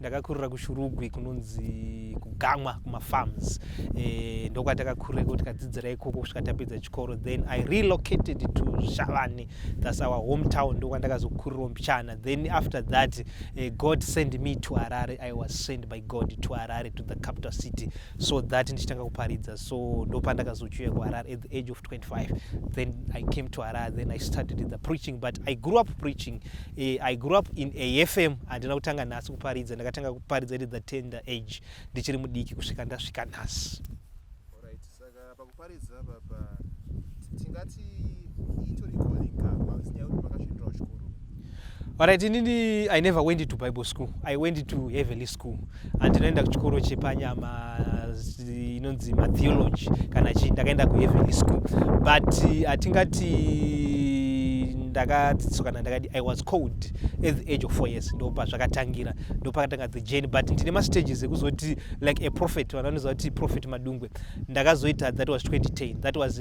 ndakakurira kushurugwi kunonzi kugamwa kumafarms e, eh, ndokwatakakurira ikoko tikadzidzira ikoko kusvika tapedza chikoro then i relocated to shavani thats our hometown ndokwandakazokurirawo mbichana then after that uh, god send me to harare i was sent by god to harare to the capital city so that ndichitanga kuparidza so ndopandakazochiuya kuharare at the age of 25 then i came to harare then i started the preaching but i grew up preaching Eh, I grew up in AFM handina kutanga nhasi kuparidza ndakatanga kuparidza at the tender age ndichiri mudiki kusvika ndasvika nhasi Alright, saka pakuparidza papa tingati itori calling ka pasinyaya kuti makasvindirawo chikoro. Alright, inini I never went to Bible school. I went to heavenly school. andinoenda kuchikoro chepanyama inonzi matheology kana chii ndakaenda kuheavenly school but hatingati ndakadzidziswa kana ndakadi i was cold at the age of four years ndo pazvakatangira ndo pakatanga the jane but ndine mastages ekuzoti like a prophet vanhu vanoziva kuti prophet madungwe ndakazoita that was 2010 that was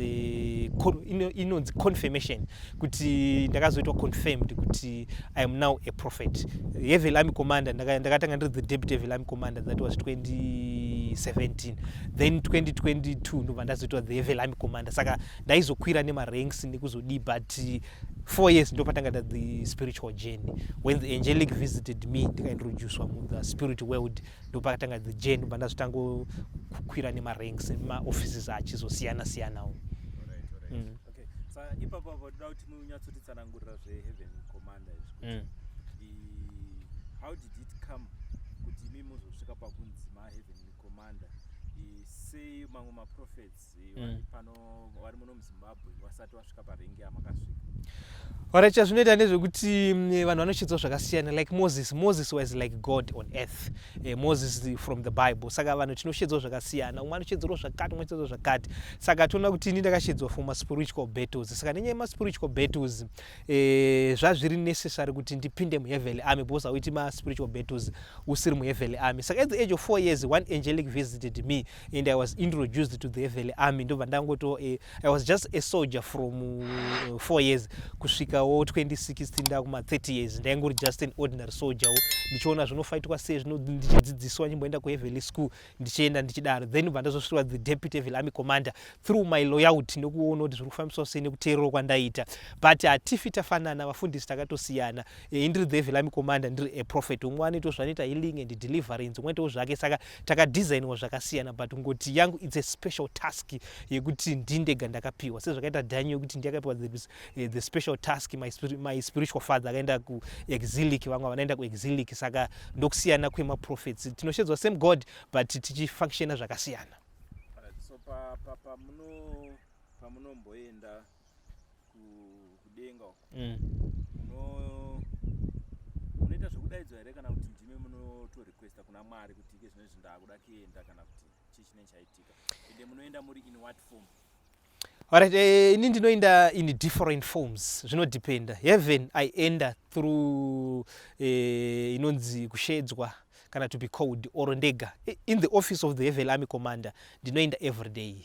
inonzi confirmation kuti ndakazoitwa confirmed kuti i am now a prophet hevel army commander ndakatanga ndiri the deputy hevel army commander that was 2017 then 2022 ndobva ndazoitwa the hevel army commander saka ndaizokwira nemaranks nekuzodii but four years ndopatanga ta the spiritual journey when the angelic visited me ndikaintroducwa mu the spirit world ndopakatanga the journey ndobva ndazotangokwira nemaranks maoffices achizosiyana siyanawo mm. okay sa ipapo apo toda kuti munyatsotitsanangurira zveheaven commander izvi kuti mm. i- how did it come kuti imi muzosvika pakunzi maheaven commander i- sei mamwe maprophets i, vari Mm. pano vari muno muzimbabwe vasati vasvika parengi yamakasvika Alright, chazvinoita ndezvekuti mm, eh, vanhu vanochidzwa zvakasiyana like moses moses was like god on earth eh, moses the- from the bible saka vanhu tinoshedzwa zvakasiyana umwe anoshedzerwa zvakati umwe anoshedzerwa zvakati saka toona kuti ini ndakashedzwa for maspiritual battles saka nenyaya yemaspiritual battles eh, zvazviri necessary kuti ndipinde muheavenly army because auiti maspiritual battles usiri muheavenly army saka at the age of four years one angelic visited me and i was introduced to the heavenly army ndobva ndangoto eh, i was just a soldier from uh, four years kusvikawo 2016 ndakuma 30 years ndaingori just an ordinary soldierwo ndichiona zvinofaitwa sei zvino ndichidzidziswa nyimboenda kuheavenly school ndichienda ndichidaro then ndobva ndazosvirwa the deputy evil army commander through my loyalty nekuona kuti zviri kufambiswa sei nekuteererwa kwandaita but hatifi tafanana vafundisi takatosiyana eh, indiri the evil army commander ndiri a prophet umwe anoitawo zvanoita healing and deliverance umwe aitawo zvake saka takadesigniwa zvakasiyana but ngoti yangu its a special task yekuti ndindega ndakapiwa sezvakaita daniel yekuti ndiyakapiwa this eh, the special task my, spiri, my spiritual father akaenda kuexilic vamwe vanaenda kuexilic saka ndokusiyana kwemaprofets tinoshedzwa same god but tichifunctiona zvakasiyana so pamunomboenda pa, pa, pa kudenga uko mm. munoita zvekudaidzwa here kana kuti ndimi munotorequesta kuna mwari kuti ike zvino izvi ndakuda kuenda kana kuti chii chinenge chaitika ende munoenda muri in what form Alright, eh, ini ndinoenda in different forms zvinodependa heaven i enda through eh, inonzi kushedzwa kana to be called or ndega I- in the office of the heaven army commander ndinoenda every day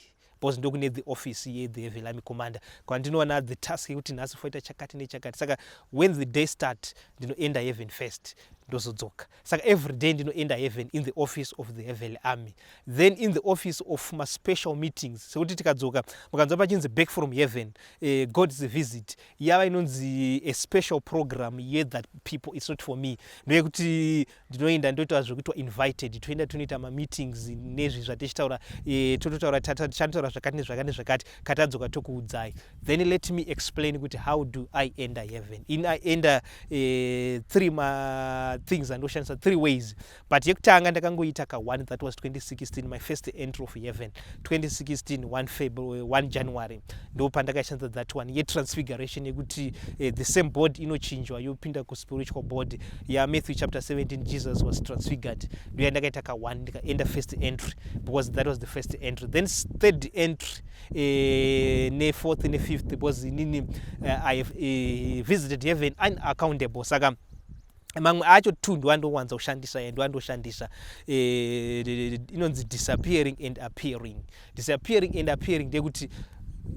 because ndokune the office ye the heaven army commander kwandinoona the task yekuti nhasi foita chakati nechakati saka when the day start ndinoenda heaven first ndozodzoka saka every day ndinoenda heaven in the office of the heavenly army then in the office of maspecial meetings sekuti tikadzoka mukanzwa pachinzi back from heaven uh, eh, god's visit yava inonzi a special program ye that people its not for me ndeyekuti ndinoenda ndoita zvekuitwa invited toenda tonoita mameetings nezvi zvatichitaura uh, tototaura chanotaura zvakati nezvakati nezvakati katadzoka tokuudzai then let me explain kuti how do i enter heaven in i enter uh, three ma things andoshandisa three ways but yekutanga ndakangoita ka one that was 2016 my first entry of heaven 2016 1 february 1 january ndo pandakashandisa that one yetransfiguration yekuti uh, the same body inochinjwa yopinda kuspiritual body yamatthew chapter 17 jesus was transfigured ndoya ndakaita ka one ndikaenda first entry because that was the first entry then third entry eh, nefourth nefifth because inini uh, i have uh, visited heaven unaccountable saka mamwe acho two ndowandowanza kushandisa e ndowandoshandisa eh, inonzi disappearing and appearing disappearing and appearing ndekuti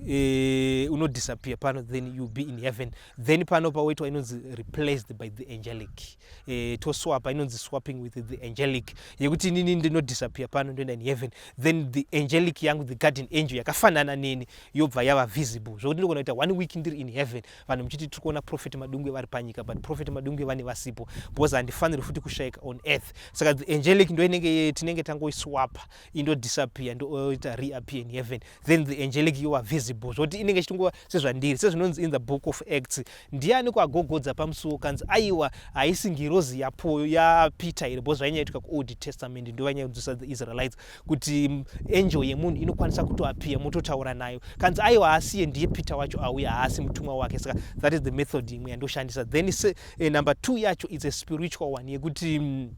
Eh, unodisappear pano then you be in heaven then pano pawoitwa inonzi replaced by the angelic eh, toswapa inonzi swapping with the angelic yekuti inini ndinodisappear pano ndoenda in heaven then the angelic yangu the garden angel yakafanana neni yobva yava visible zvokuti ndogona kuita one week ndiri in heaven vanhu muchiti tiri kuona prophet madungwe vari panyika but prophet madungwe vane vasipo because handifaniri futi kushaika on earth saka the angelic ndo inenge tinenge tangoiswapa indo disappear ndoita reappear in heaven then the angelic you are visible zvoti inenge ichitongova sezvandiri sezvinonzi in the book of acts ndiani kwagogodza pamusuwo kanzi aiwa haisi ngirozi yapoyo yapeter here bcause zvainyaitika kuold testament ndovanyaiudzisa the israelites kuti mm, angel yemunhu inokwanisa kutoappear mototaura nayo kanzi aiwa haasiye ndiye peter wacho auya haasi mutumwa wake saka that is the method imwe yandoshandisa then se, eh, number two yacho its a spiritual one yekuti mm,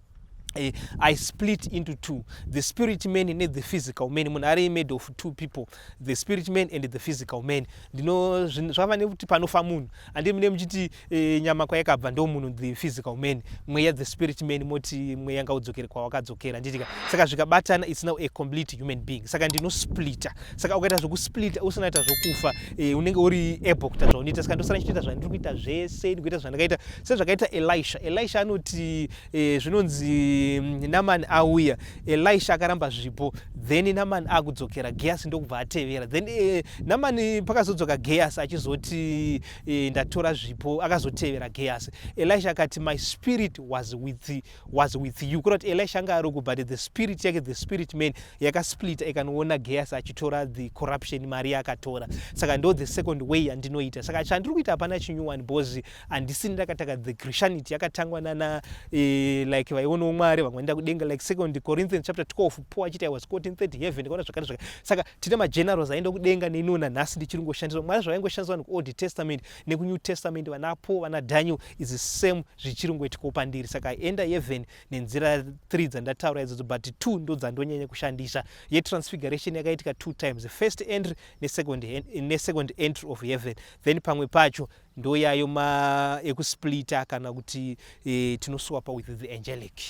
Eh, I split into two the spirit man ne the physical man munhu ari made of two people the spirit man and the physical man ndino zvava nekuti panofa munhu andi mune muchiti e, nyama kwayakabva ndo munhu the physical man mweya the spirit man moti mweya ngaudzokere kwawakadzokera nditika saka zvikabatana it's now a complete human being saka ndino splita saka ukaita zvekusplita usinaita zvokufa e, eh, unenge uri able kuita zvaunoita saka ndosana chitoita zvandiri kuita zvese ndikuita zvandakaita sezvakaita elisha elisha anoti e, zvinonzi mm, namani auya elisha akaramba zvipo then namani akudzokera geasi ndokubva atevera then e, namani pakazodzoka geasi achizoti e, ndatora zvipo akazotevera geasi elisha akati my spirit was with, was with you kurati elisha anga aroko but the spirit yake the spirit man yakasplita ikanoona geasi achitora the corruption mari yaakatora saka ndo the second way yandinoita saka chandiri kuita hapana chinyuwani bhozi handisini ndakatanga the christianity yakatangwa nana eh, like vaionawo mwari vamwe vaenda kudenga like second corinthians chapter 12 paul achiti i was caught in third heaven ndikaona zvakare zvakare saka tine magenerals aenda kudenga neniwo nanhasi ndichiri ngoshandiswa mwari zvavaingoshandiswa vanhu kuold testament nekunew testament vana paul vana daniel is the same zvichiri ngoitikawo pandiri saka enda heaven nenzira three dzandataura idzodzo but two ndo dzandonyanya kushandisa yetransfiguration yakaitika two times first entry nesecond, ne second entry of heaven then pamwe pacho ndoyayo ma ekusplita kana kuti e, tinoswapa with the angelic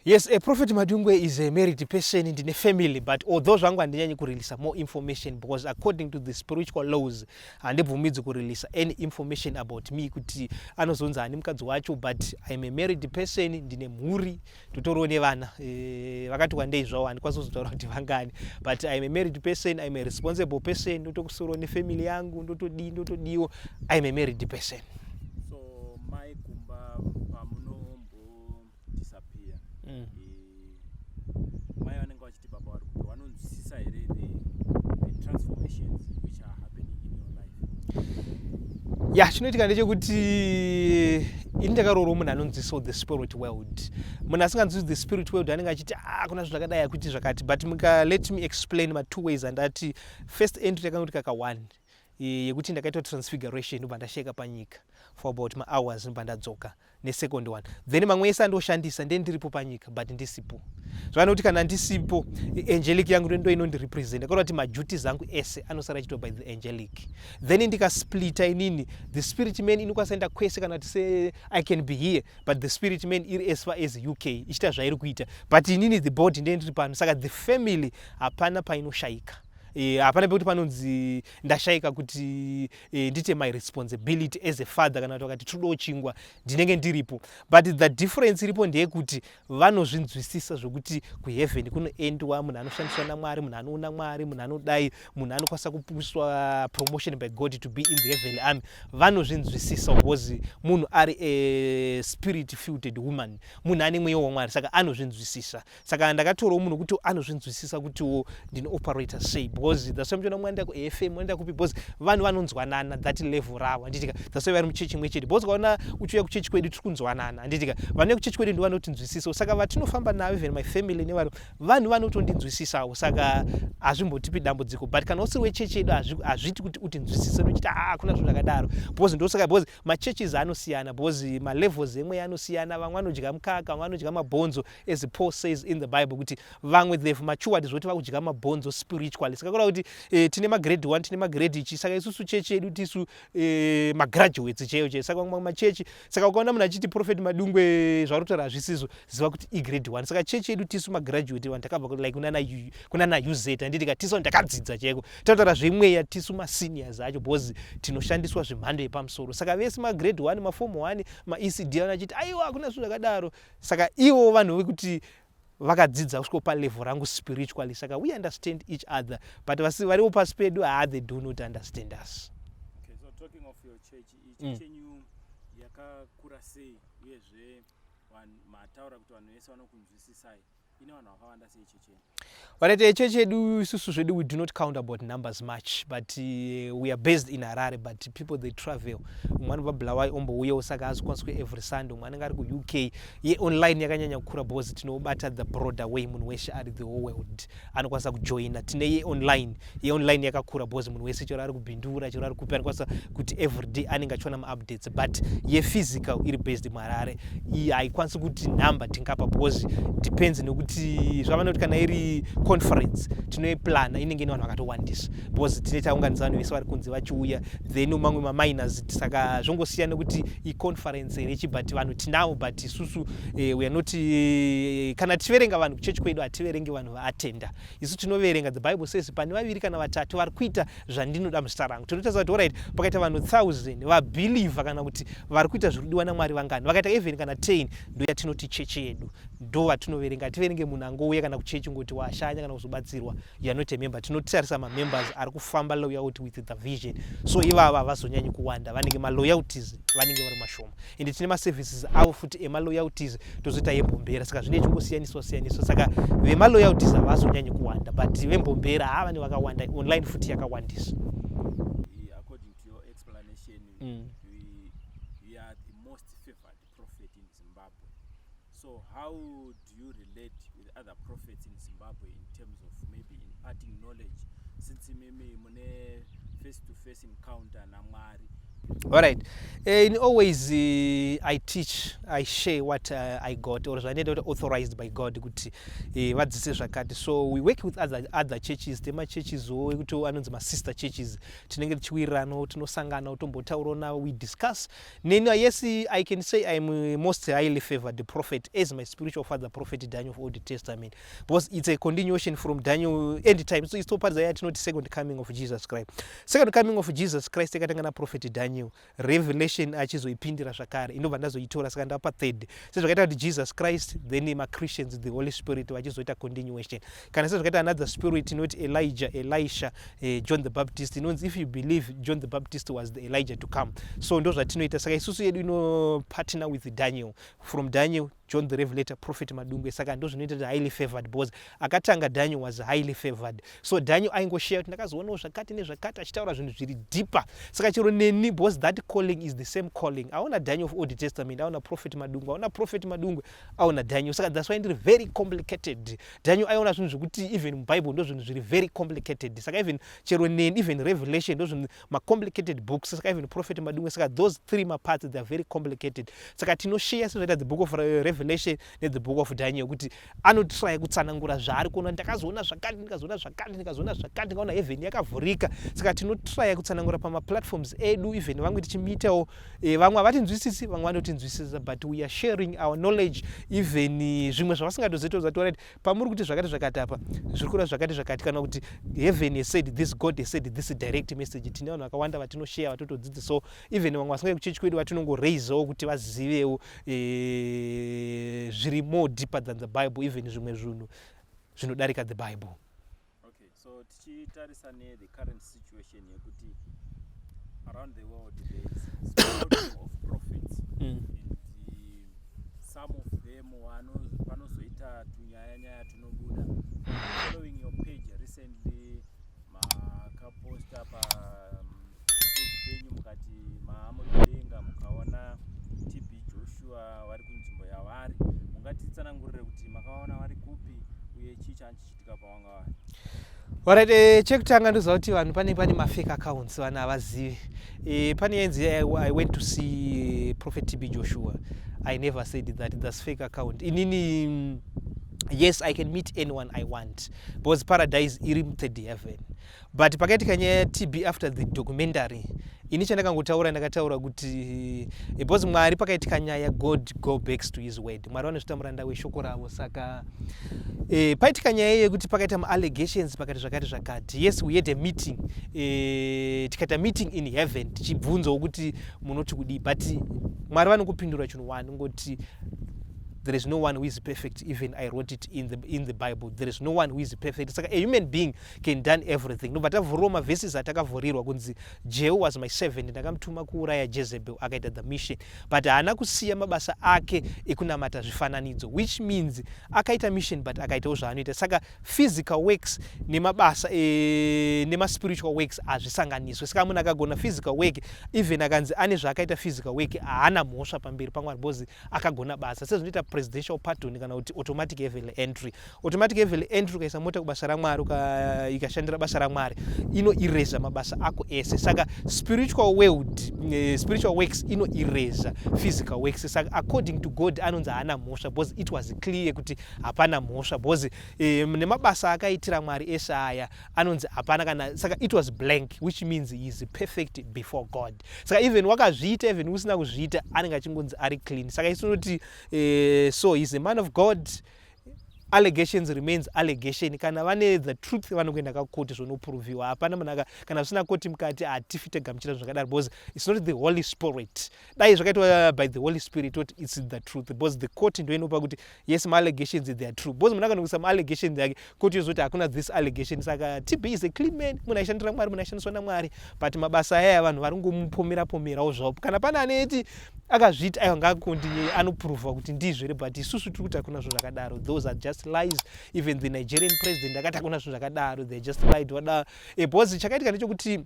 yes a prophet madungwe is a married person ndine family but although zvangu handinyanyi kureleasa more information because according to the spiritual laws handibvumidzi kureleasa any information about me kuti anozonzi hani mukadzi wacho but iam a married person ndine mhuri uh, tutoriwo nevana eh, vakati wandei zvawo handikwanisi kuzotaura kuti vangani but im a married person im a responsible person ndotokusoro nefamily yangu ndotodii ndotodiwo im a married person so mai kumba pamunombodisappear mm. Eh, mai vanenge Baba vari kupi vanonzwisisa here the, the transformations which are happening in your life? ya chinoitika ndechekuti ini ndakaroorwa munhu anonzwisawo the spirit world munhu asinganzwisi the spirit world anenge achiti ah kuna zvinhu zvakadai akuti zvakati but muka let me explain matwo ways andati first entry yakanoti kaka one yekuti ndakaitwa transfiguration ndobva ndasheka panyika for about mahours ndobva ndadzoka mm. nesecond one then mamwe ese andoshandisa nde ndiripo panyika but ndisipo zvavana kuti kana ndisipo angelic yangu ndo inondirepresenta kureva kuti maduties angu ese anosara achitwa by the angelic then ndikasplita inini the spirit man inokwanisa enda kwese kana kuti se i can be here but the spirit man iri as far as uk ichiita zvairi kuita but inini the body nde ndiri pano saka the family hapana painoshayika Eh, hapana e, pekuti panonzi ndashayika kuti e, ndite my responsibility as a father kana kuti vakati todawo chingwa ndinenge ndiripo but the difference iripo ndeyekuti vanozvinzwisisa zvekuti kuheaven kunoendwa munhu anoshandiswa namwari munhu anoona mwari munhu anodai munhu anokwanisa kupuswa promotion by god to be in the heavenly army vanozvinzwisisa because munhu ari a spirit filted woman munhu ane mweya wamwari saka anozvinzwisisa saka ndakatorawo munhu kuti anozvinzwisisa kutiwo ndino operator sei because that's why muchiona mwaenda kufm mwaenda kupi because vanhu vanonzwanana that level ravo handitika that's why vari muchechi imwe chete because ukaona uchiuya kuchechi kwedu tiri kunzwanana handitika vanouya kuchechi kwedu ndi vanotinzwisisawo saka vatinofamba navo even my family nevaro vanhu vanotondinzwisisawo saka hazvimbotipi dambudziko but kana usiri wechechi yedu hazviti kuti utinzwisise nochiti haa hakuna zvinhu zvakadaro because ndosaka because machurches anosiyana because malevels emweya anosiyana vamwe vanodya mukaka vamwe vanodya mabhonzo as paul says in the bible kuti vamwe they've matured zvoti vakudya mabhonzo spiritually saka kura kuti eh, tine magrade 1 tine magrade ichi saka isusu chechi yedu tisu eh, magraduates chaiyo chaiyo saka mamwe machechi saka ukaona munhu achiti profet madungwe eh, zvauri kutaura hazvisizo ziva kuti igrade 1 saka chechi yedu tisu magraduate vanhu takabva like kunana, kunana uz handiti ka tisu ndakadzidza chaiko tataura zvemweya tisu maseniors acho because tinoshandiswa zvemhando yepamusoro saka vese magrade 1 mafomu 1 maecd anachiti aiwa hakuna zvinhu zvakadaro saka ivo vanhu vekuti vakadzidza kusvika palevel rangu spiritually saka we understand each other but vasi variwo pasi pedu haa ah, they do not understand us okay, so talking of your church ichi mm. chenyu yakakura sei uyezve mataura kuti vanhu vese vanokunzwisisai vakaita icho chedu isusu zvedu we do not count about numbers much but uh, we are based in harare but people they travel umwe anobva bulawai ombouyawo saka azokwaniswa every sunday umwe anenge ari kuuk ye online yakanyanya kukura because tinobata the broader way munhu weshe ari the whole world anokwanisa kujoina tine ye online yeonline yakakura because munhu wese chero ari kubhindura chero ari kupi anokwanisa kuti everyday anenge achiona maupdates but yephysical iri based muharare iyi haikwanisi kuti number tingapa because depends nekuti zvavanoti kana iri conference tinoiplana inenge ine vanhu vakatowandisa because tine taunganisa vanhu vese vari kunze vachiuya then mamwe maminers saka zvongosiyana nekuti iconference here chi but vanhu tinawo but isusu eh, we are not eh, kana tichiverenga vanhu kuchechi kwedu hativerenge vanhu vaatenda isu tinoverenga the bible says pane vaviri kana vatatu vari kuita zvandinoda muzita rangu tinotaza kuti orit pakaita vanhu thousand vabhilivha kana kuti vari kuita zviri kudiwa namwari vangani vakaita even kana ten ndo yatinoti chechi yedu ndo vatinoverenga hativerenge munhu angouya kana kuchechi ngoti washanya kana kuzobatsirwa yanoti member tinotarisa mamembers ari kufamba loyalty with the vision so ivava havazonyanyi kuwanda vanenge maloyalties vanenge vari mashoma ende tine maservices avo futi emaloyalties tozoita yembombera saka zvine chingosiyaniswa siyaniswa saka vemaloyalties havazonyanyi kuwanda but vembombera haa vane vakawanda online futi yakawandisa mm. So how do you relate with other prophets in Zimbabwe in terms of maybe imparting knowledge since mimi mune face to face encounter na Mwari? All right. Uh, in always uh, I teach, I share what uh, I got or I need authorized by God kuti uh, vadzise zvakati. So we work with other other churches, tema churches wo kuti anonzi ma sister churches. Tinenge tichiwirana, tinosangana, tombotaura navo, we discuss Neni, ah, yes, I can say I'm a most highly favored prophet as my spiritual father, prophet Daniel of Old Testament, because it's a continuation from Daniel end time. So it's so part that not second coming of Jesus Christ. Second coming of Jesus Christ yakatanga na prophet Daniel. Revelation achizoipindira zvakare. Inobva ndazoitora saka ndapa third. Sezvakaita kuti Jesus Christ, then ma Christians, the Holy Spirit vachizoita continuation. kana sezvakaita another spirit inoti elijah elisha eh, john the baptist inonzi if you believe john the baptist was the elijah to come so ndo zvatinoita saka isusu yedu inopartner with daniel from daniel john the revelator prophet madungwe saka ndo zvinoita kuti highly favored because akatanga daniel was highly favored so daniel aingosheya kuti ndakazoonawo zvakati nezvakati achitaura zvinhu zviri deeper saka chero neni because that calling is the same calling aona daniel of old testament aona prophet madungwe aona prophet madungwe aona daniel saka that's why ndiri very complicated daniel aiona zvinhu zvekuti even mubible ndozvinhu zviri very complicated saka even chero neni even revelation ndozvinhu macomplicated books saka even prophet madumwe saka those three maparts they are very complicated saka tinosheya sezvaita the book of revelation nethe book of daniel kuti anotraya kutsanangura zvaari kuona ndakazoona zvakati ndikazoona zvakati ndikazoona zvakati ndikaona heaven yakavhurika saka tinotraya kutsanangura pamaplatforms edu even vamwe tichimiitawo e, vamwe havatinzwisisi vamwe vanotinzwisisa but we are sharing our knowledge even eh, zvimwe zvavasingatozoitozationa kuti pamuri kuti zvakati zvakati apa zviri kureva zvakati zvakati kana kuti heaven has said this god has said this direct message tine vanhu vakawanda vatinosheya vatotodzidzisawo even vamwe vasingai kuchechi kwedu vatinongoraisawo kuti vazivewo e, zviri more deeper than the bible even zvimwe zvinhu zvinodarika the bible Okay, so tichitarisa ne the current situation yekuti around the world there is of profits mm. and the, some of them vanozoita tunyaya nyaya tunobuda following your page recently makaposta pa um, page penyu mukati maamudenga mukaona TB Joshua vari kunzvimbo yavari mungatitsanangurire kuti makaona vari kupi uye chii chanchi Alright, eh, chekutanga ndoziva kuti vanhu pane pane mafake accounts vanhu havazivi eh, pane yenzi eh, i went to see prophet tb joshua i never said that thats fake account inini mm, yes i can meet anyone i want because paradise iri mthird heaven but pakaitika nyaya yatb after the documentary ini chandakangotaura ndakataura kuti because mwari pakaitika nyaya god go backs to his word mwari vanozvita muranda weshoko ravo saka e, paitika nyaya yekuti pakaita maallegations pakati zvakati zvakati yes we had a meeting e, tikaita meeting in heaven tichibvunzawo kuti munoti kudii but mwari vanokupindura chinhu wani ngoti there is no one who is perfect even i wrote it in the, in the bible there is no one who is perfect saka a human being can done everything ndobva tavhuriwa maverses atakavhurirwa kunzi jehu was my servant ndakamutuma kuuraya jezebel akaita the mission but haana kusiya mabasa ake ekunamata zvifananidzo which means akaita mission but akaitawo zvaanoita saka physical works nemabasa e, nemaspiritual works hazvisanganiswe saka munhu akagona physical work even akanzi ane zvaakaita physical work haana mhosva pamberi pamwari because akagona basa sezvinoita presidential pardon kana kuti automatic heavenly entry automatic evely entry ukaisa mota kubasa ramwari ikashandira basa ramwari ino ireza mabasa ako ese saka spiritual world eh, spiritual works ino ireza physical works saka according to god anonzi haana mhosva because it was clear kuti hapana mhosva because eh, nemabasa akaitira mwari ese aya anonzi hapana kana saka it was blank which means he is perfect before god saka even wakazviita even usina kuzviita anenge achingonzi ari clean saka isu tinoti eh, so he is a man of god allegations remains allegation kana vane the truth vanokuenda kakoti zvonopurovhiwa hapana munhu kana zvisina koti mukati hatifi tegamuchira zvakadaro because its not the holy spirit dai zvakaitwa by the holy spirit oti its the truth because the court ndoinopa kuti yes maallegations they are true because munhu akanokuisa maallegations ake kuti izvoti hakuna this allegation saka tb is a clean man munhu aishandira mwari munhu aishandiswa namwari but mabasa ayaya vanhu vari ngomupomera pomerawo zvavo kana pane anoiti akazviti aiwa ngakundi anoprova kuti ndizvo here but isusu tiri kuti hakuna zvo zvakadaro those are just lies even the nigerian president akati hakuna zvo zvakadaro they're just lied wada e, because chakaitika ndechokuti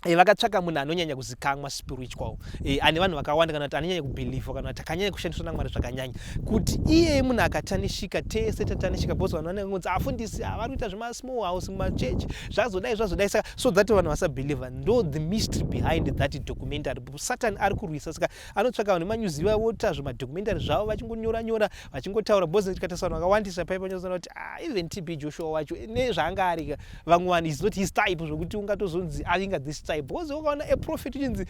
E, vakatsvaka munhu anonyanya kuzikamwa spiritual e, ane vanhu vakawanda kana kuti anonyanya kubhilivha kana kuti akanyanya kushandiswa namwari zvakanyanya kuti iyeye munhu akatanishika tese tatanishika bcause vanhu vanenge kunzi afundisi ah, vari kuita zvemasmall house mumachechi zvazodai zvazodai saka so that vanhu vasabhilivha ndo the mystery behind that documentary satan ari kurwisa saka anotsvaka vanhu vemanyuzi vavota zvemadocumentary zvavo vachingonyora nyora vachingotaura bcause tikataisa vanhu vakawandisa paipa nyozoona kuti ah, even tb joshua wacho nezvaanga arika vamwe vanhu is not his type zvokuti ungatozonzi avinga this type because ukaona a prophet uchinzi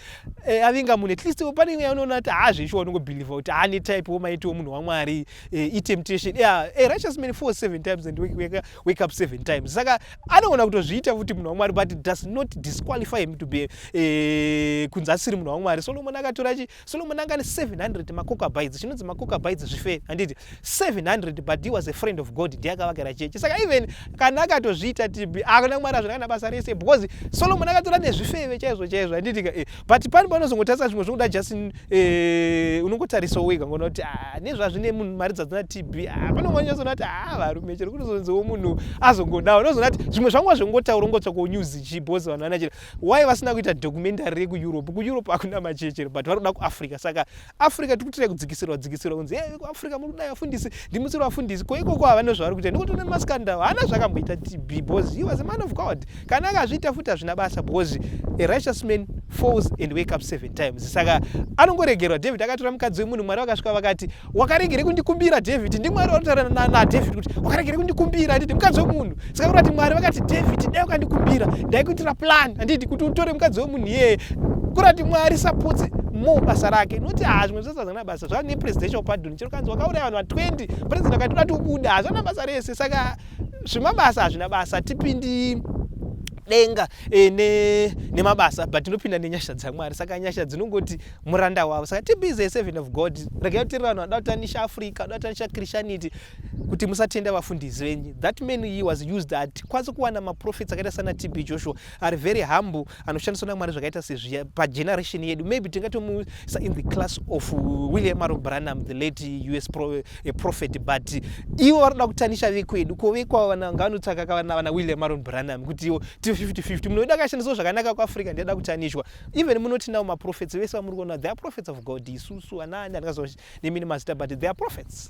eh, avinga munhu at least pane imwe yaunoona kuti haazvesho wanongobhilivha kuti haane type womaitiwo munhu wamwari eh, itemptation yeah, a righteous man four seven times and wake, wake, wake up seven times saka anoona kutozviita futi munhu wamwari but it does not disqualify him to be eh, kunzi asiri munhu wamwari solomon akatora Solomon anga ane 700 macocabites chinonzi macocabites zvife handiti 700 but he was a friend of God ndiye akavakira chechi saka even kana akatozviita tibi akuna kumwari azvinakana basa rese because Solomon akatora nezvifeve chaizvo chaizvo handiti ka eh, but pani panozongotarisa zvimwe zvokuda just eh, unongotarisa wega ngoona kuti ah, nezvazvine munhu mari dzadzina tibi ah, pane umwe anyazoona kuti ah, varume chero kunozonziwo munhu azongodawo unozoona kuti zvimwe zvangu azvingotaura ungotsvakonews chi because vanhu vanachira why vasina kuita documentary rekueurope kueurope hakuna machechere but vari kuda kuafrica saka africa tiri kutirai kudzikisirwa dzikisirwa kunzi hey, kuafrica muri kudai vafundisi ndimusiri vafundisi ko ikoko havane zvavari kuita nekuti una maskandal haana zvakamboita tb because he was a man of god kana akazviita futi hazvina basa because a righteous man falls and wake up seven times saka anongoregerwa david akatora mukadzi wemunhu mwari vakasvika vakati wakaregere kundikumbira david ndimwari wataura nadavid kuti wakaregere kundikumbira handiti mukadzi wemunhu saka kurati mwari vakati david dai ukandikumbira ndaikuitira plan handiti kuti utore mukadzi wemunhu iyeye kurati mwari sapotse mo basa rake noti haa zvimwe zvese hazvana basa zvava nepresidential pardon chero kanzi wakauraya vanhu va20 president akati uda tiubuda hazvana basa rese saka zvemabasa hazvina basa tipindi denga e, ne, nemabasa but ndinopinda nenyasha dzamwari saka nyasha dzinongoti muranda wavo saka tibize eseven of god regai tiri vanhu vanoda kutanisha africa vanoda kutanisha christianity kuti musatenda vafundisi venyu that man he was used at kwanisa kuwana maprofits akaita sana tb joshua ari very humble anoshandiswa namwari zvakaita sezviya pageneration yedu maybe tingatomuisa in the class of william aro branham the late us pro, uh, prophet but ivo vanoda kutanisha vekwedu ko vekwavo ngavanotsvaka kavana vana william aron branham kuti ivo ti 50 50 munoida akashandiswa zvakanaka kuafrica ndiada kutanishwa even munoti now maprophets vese vamuri kuona they are prophets of god isusu anaani atingaziva nemi nemazita but they are prophets